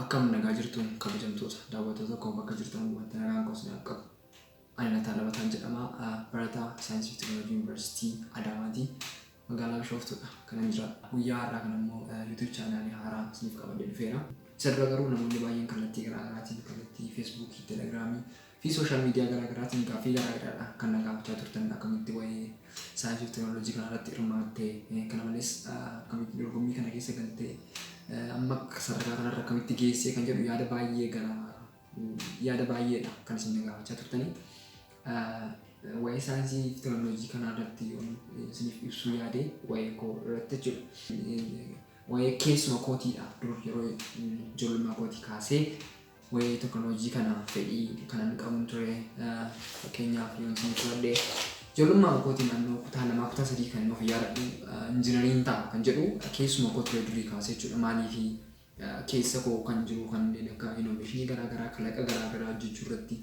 Akkam nagaa jirtuun kabajamtoota daawwattoota koo bakka jirtan wanta nagaan koo isiniif qabu. Ani Lataa Labataan jedhama. Barataa Saayinsii fi Teekinooloojii Yuunivarsiitii Adaamaati. Magaalaa Bishooftuudha kanan jira. Guyyaa har'aa kana immoo YouTube chaanaalii haaraa isiniif qabadhee dhufeera. Isa dura garuu namoonni baay'een kallattii garaa garaatiin kallattii Feesbuukii, Telegiraamii fi sooshaal miidiyaa garaa garaatiin gaaffii garaa garaadha kan na gaafachaa turtan akkamitti waa'ee saayinsii fi teeknooloojii kana irratti hirmaatte kana malees akkamitti dorgommii kana keessa galtee amma sadarkaa kanarra akkamitti geessee kan jedhu yaada baay'ee gara yaada baay'eedha kan isin na gaafachaa turtanii. Waa'ee saayinsii fi teknooloojii kanaa irratti yoon isiniif ibsuu yaade waa'ee koo irratti jechuudha. Waa'ee keessuma kootiidha dur yeroo ijoollummaa kootii kaasee waa'ee teknooloojii kana fedhii kanan qabun ture. Fakkeenyaaf yoon isin fudhadhe ijoollummaa kootii naannoo kutaa lamaa kutaa sadii kan of yaadadhu injinariin ta'a kan jedhu keessuma koo ture durii kaasee jechuudha. Maaliif keessa koo kan jiru kanneen akka innovationii garaa garaa kalaqa garaa garaa hojjechuu irratti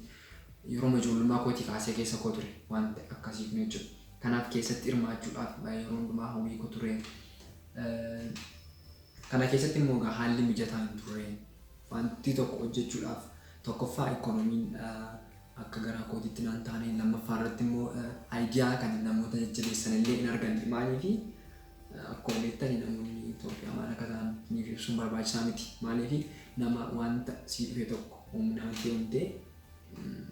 yeroo ijoollummaa kootii kaasee keessa koo ture wanta akkasii kun jechuudha. Kanaaf keessatti hirmaachuudhaaf yeroo hundumaa hawwii koo ture. Kana keessatti immoo egaa haalli mijataa hin turre. Wanti tokko hojjechuudhaaf tokkoffaa ikoonomiin akka garaa kootiitti naan taane lammaffaa irratti immoo ayidiyaa kana namoota jajjabeessan illee hin arganne maaliifi Akkuma beektani namoonni Itoophiyaa maal akka ta'an niif ibsuun barbaachisaa miti. Maaliif nama wanta sii dhufe tokko humnaan deemtee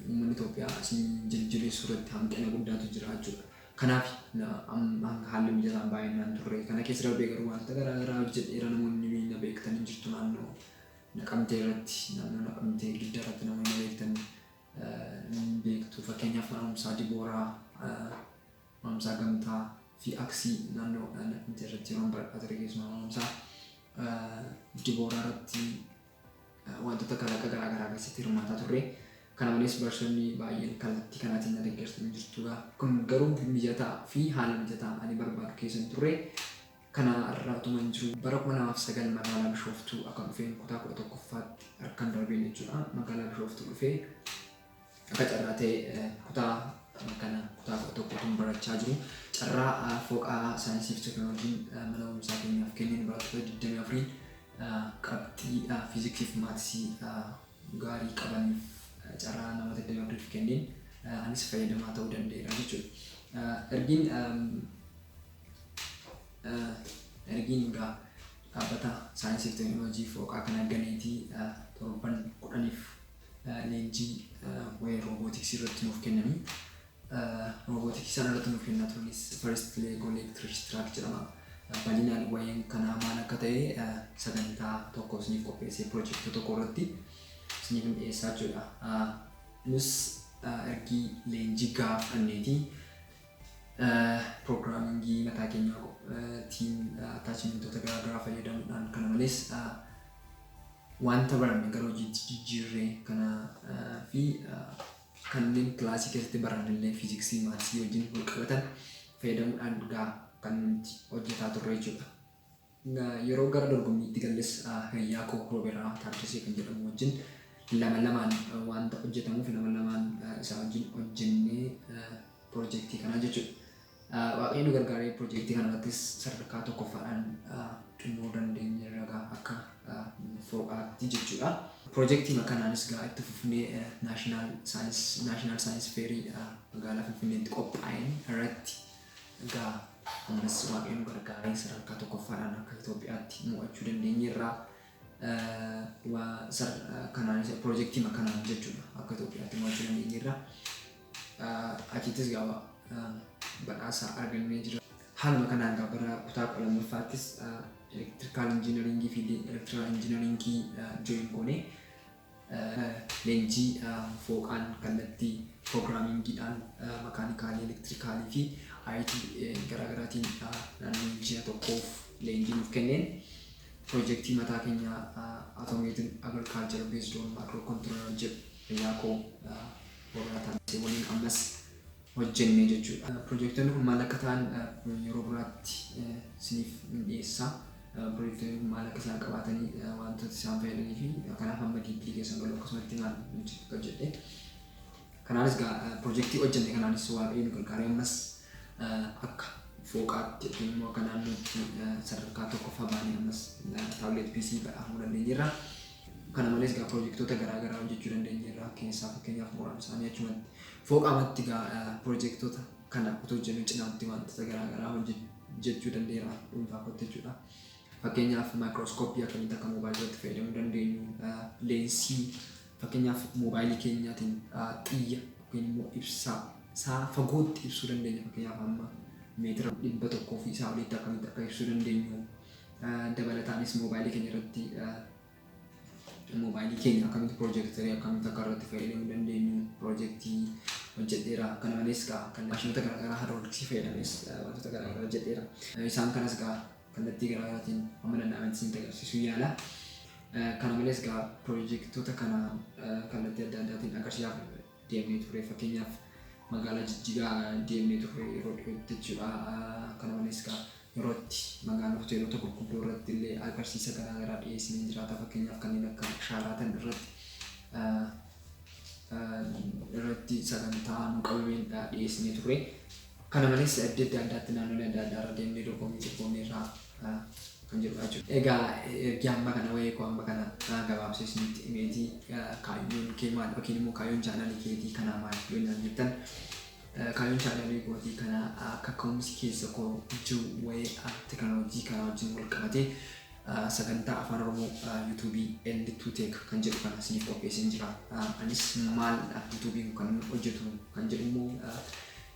uummanni Itoophiyaa si jajjabeessuu irratti hanqina guddaatu jira jechuudha. Kanaaf haalli mijataan baay'inaan turre. Kana keessa darbee garuu wantoota garaa garaa hojjedheera namoonni na beektan hin jirtu naannoo naqamtee irratti naannoo naqamtee gidda irratti namoonni na beektan hin beektu. Fakkeenyaaf mana barumsaa Dibooraa Mamsaa gamtaa fi aksii naannoo Naqmtee irratti yeroon baradhaa ture keessumaa mamsaa dibooraa irratti wantoota kalaqa garaa garaa keessatti hirmaataa turre. Kana malees barsiisonni baay'een kallattii kanaatiin na deeggartanii jirtu. Kun garuu mijataa fi haala mijataa ani barbaadu keessa hin turre. Kana irraa utuma hin jiru bara 2009 magaalaa Bishooftuu akka dhufeen kutaa 11ffaatti harkan darbeen jechuudha. Magaalaa Bishooftuu dhufee Akka carraa ta'e kutaa kana kutaa kudha tokkotuun barachaa jiru. Carraa fooqaa saayinsii fi teekinooloojiin mana barumsaa keenyaaf kenneen barattoota 24 qabxiidhaa fiiziksii fi maatisii gaarii qabaniif carraa namoota 24f kenneen anis fayyadamaa ta'uu danda'eera jechuudha. Ergiin ergiin egaa dhaabbata saayinsii fi teekinooloojii fooqaa kana ganeetii torban kudhaniif leenjii waa'ee roobootiksii irratti nuuf kennanii roobootiksii isaan irratti nuuf kennaa turanis first leg electric track jedhama. Bal'inaan waa'een kanaa maal akka ta'e sagantaa tokko isiniif qopheessee pirojekta tokko irratti isiniif hin dhiyeessaa jechuudha. Nus ergii leenjii gahaa fudhanneeti piroogiraamingii mataa keenyaa tiin attaachimentoota garaagaraa fayyadamuudhaan kana malees Wanta baranne gara hojiitti jijjiirre kana fi kanneen kilaasii keessatti baranne illee fiiziksii, maatsii wajjin wal qabatan fayyadamuudhaan gaa kan nuti hojjetaa turre jechuudha. Yeroo gara dorgommiitti galles hiriyaa koo Rooberaa Taaddasee kan jedhamu wajjin lama lamaan wanta hojjetamuuf lama lamaan isaa wajjin hojjennee pirojektii kanaa jechuudha. Waaqayyo nu gargaaree pirojektii kanarrattis sadarkaa tokkoffaadhaan xumuruu dandeenyeerra gaa akka foo'aatti jechuudha. Pirojektiima kanaanis gaa itti fufnee naashinaal saayinis naashinaal saayinis feerii magaalaa Finfinneetti qophaa'een irratti gaa ammas waaqayyo nu gargaaree sadarkaa tokkoffaadhaan akka Itoophiyaatti mo'achuu dandeenyeerra. Waa sar kanaanis pirojektiima kanaan jechuudha akka Itoophiyaatti mo'achuu dandeenyeerra. achittis gaafa badhaasa argannee jira. Haaluma kanaan egaa bara kutaa kudha lammaffaattis elektirikaal injiinariingii fi elektiraal injiinariingii jooyin goone leenjii fooqaan kallattii piroogiraamiingiidhaan makaanikaalii elektirikaalii fi IT garaagaraatiin naannoo ji'a tokkoof leenjii nuuf kenneen piroojeektii mataa keenya automated agriculture based on microcontroller jedhu fayyaa koo Konkolaataa Masee waliin ammas hojjenne jechuudha. Pirojektonni kun maal akka ta'an yeroo biraatti isiniif hin dhiyeessa. Pirojektonni kun maal akka isaan qabaatanii wantoota isaan fayyadanii fi kanaaf amma diippilii keessan galu akkasumatti maal hojjetu akka jedhe. Kanaanis gaa pirojektii hojjenne kanaanis waaqayyoon gargaaree ammas akka fooqaatti yookiin immoo akka naannootti sadarkaa tokkoffaa baanee ammas taabileet piisii badhaafamuu dandeenyeerra. Kana malees egaa piroojektoota garaa garaa hojjechuu dandeenyeerra. Keessaa fakkeenyaaf muraan isaanii achumatti fooqaa matti egaa piroojektoota kana utuu hojjennuu cinaatti wantoota garaa garaa hojjechuu danda'eera dhuunfaa kootti jechuudha. Fakkeenyaaf maayikirooskooppii akkamitti akka moobaayilirratti fayyadamuu dandeenyu, leensii fakkeenyaaf moobaayilii keenyaatiin xiyya yookiin immoo ibsaa isaa fagootti ibsuu dandeenya fakkeenyaaf amma meetira dhibba tokkoo fi isaa olitti akkamitti akka ibsuu dandeenyu Dabalataanis moobaayilii keenya irratti moobaayilii keenya akkamitti piroojeektarii akkamitti akka irratti fayyadamuu dandeenyu piroojeektii hojjedheera. Kana malees gaa kan maashinoota garaagaraa haadrooliksii fayyadamees wantoota garaagaraa hojjedheera. Isaan kanas gaa kallattii garaagaraatiin amma danda'ametti isin agarsiisuu yaala. Kana malees gaa piroojeektoota kana kallattii adda addaatiin agarsiisaaf deemnee turre fakkeenyaaf magaalaa jijjigaa deemnee turre yeroo dhiyootti jechuudha kana malees kaa yeroo itti magaalaa hoteelota gurguddoo irratti illee agarsiisa garaagaraa dhiyeessinee jiraata fakkeenyaaf kanneen akka shaaraatan irratti irratti sagantaa nu qabameen dhiyeessinee turre kana malees adda adda addaatti naannolee adda addaa irra deemnee dorgommii dorgommii irraa kan jedhudha jechuudha. Egaa ergi amma kana wa'ee koo amma kana gabaabsee isinitti himeetii kaayyoon kee maal yookiin immoo kaayyoon chaanaalii keetii kanaa maal yoo naan jettan kaayyoon chaanaalii kootii kana akka ka'umsi keessa koo jiru wa'ee teknooloojii kanaa wajjin wal qabatee sagantaa afaan oromoo yuutuubii L2 Tech kan jedhu kana isiniif qopheesseen jira. Anis maal yuutuubiin kan hojjetu kan jedhu immoo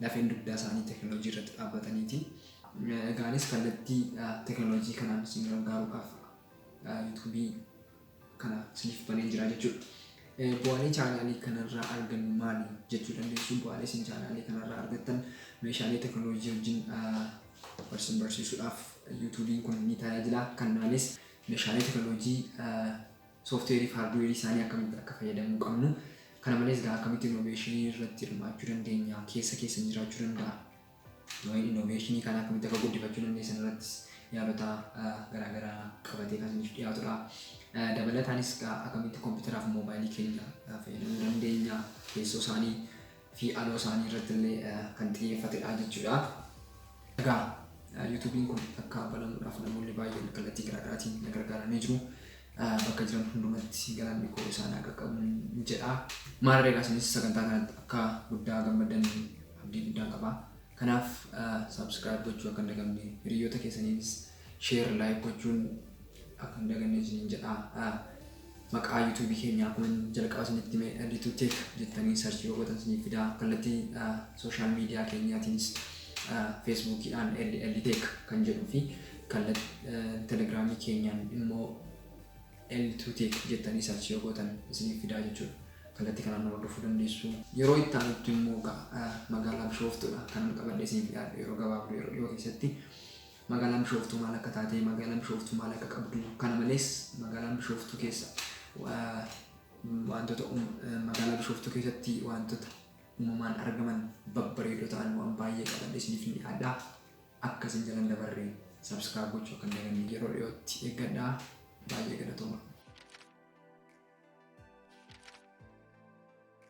lafeen dugdaa isaanii teknolojii irratti dhaabbataniiti. Egaa anis kallattii teknolojii kanaan isin gargaaruudhaaf yuutuubii kana isiniif baneen jira jechuudha. Bu'aalee chaanaalii kanarraa argannu maali jechuu dandeessu? Bu'aalee isin chaanaalii kanarraa argattan meeshaalee teknolojii wajjin barsiin barsiisuudhaaf yuutuubiin kun ni tajaajila. Kannaanis meeshaalee teknolojii Sooftiweerii fi haardiweerii isaanii akkamitti akka fayyadamuu qabnu, kana malees egaa akkamitti innoveeshinii irratti hirmaachuu dandeenya, keessa keessan jiraachuu danda'a, innoveeshinii kana akkamitti akka guddifachuu dandeessan irrattis yaalota garaa garaa qabatee kan isiniif dhiyaatudha. Dabalataanis egaa akkamitti kompiitaraa fi moobaayilii keenya fayyadamuu dandeenya, teessoo isaanii, fi aloo isaanii irratti illee kan xiyyeeffatedha jechuudha. Egaa yuutuubiin kun akka banamuudhaaf namoonni baay'een kallattii garaagaraatiin na gargaaranii jiru. Bakka jiran hundumatti galanni koo isaan haa qaqqabuun jedha. Maarree egaa isinis sagantaa kanatti akka guddaa gammaddan abdii guddaan qaba. Kanaaf subscribe gochuu akka hin dagatinee hiriyoota keessaniinis Share like gochuun akka hin daganne isiniin jedha. Maqaa YouTube keenya akkuma jalqaba isinitti hime Litu Tech jettanii search yoo gootan isiniif fida. Kallattii social media keenyaatiinis Facebookidhaan LL Tech kan jedhuu fi kallattii Telegramii keenyaan immoo L2 Tech jettanii search yoo gootan isiniif fida jechuudha. Kallattii kanaan nu hordofuu dandeessu. Yeroo itti aanutti immoo egaa, ah, magaalaa Bishooftuudha kanan qabadhee isiniif dhiyaadhe yeroo gabaabduu yeroo dhiyoo keessatti. Magaalaan Bishooftuu maal akka taate, magaalaan Bishooftuu maal akka qabdu, kana malees magaalaan Bishooftuu keessa wantoota magaalaa Bishooftuu keessatti wantoota uumamaan argaman babbareedoo ta'an waan baay'ee qaban isiniif ni dhiyaadha. Akka isin jalan dabarre subscribe gochuu akka hin dagannee yeroo dhiyootti eeggadhaa. Baay'ee galatooma.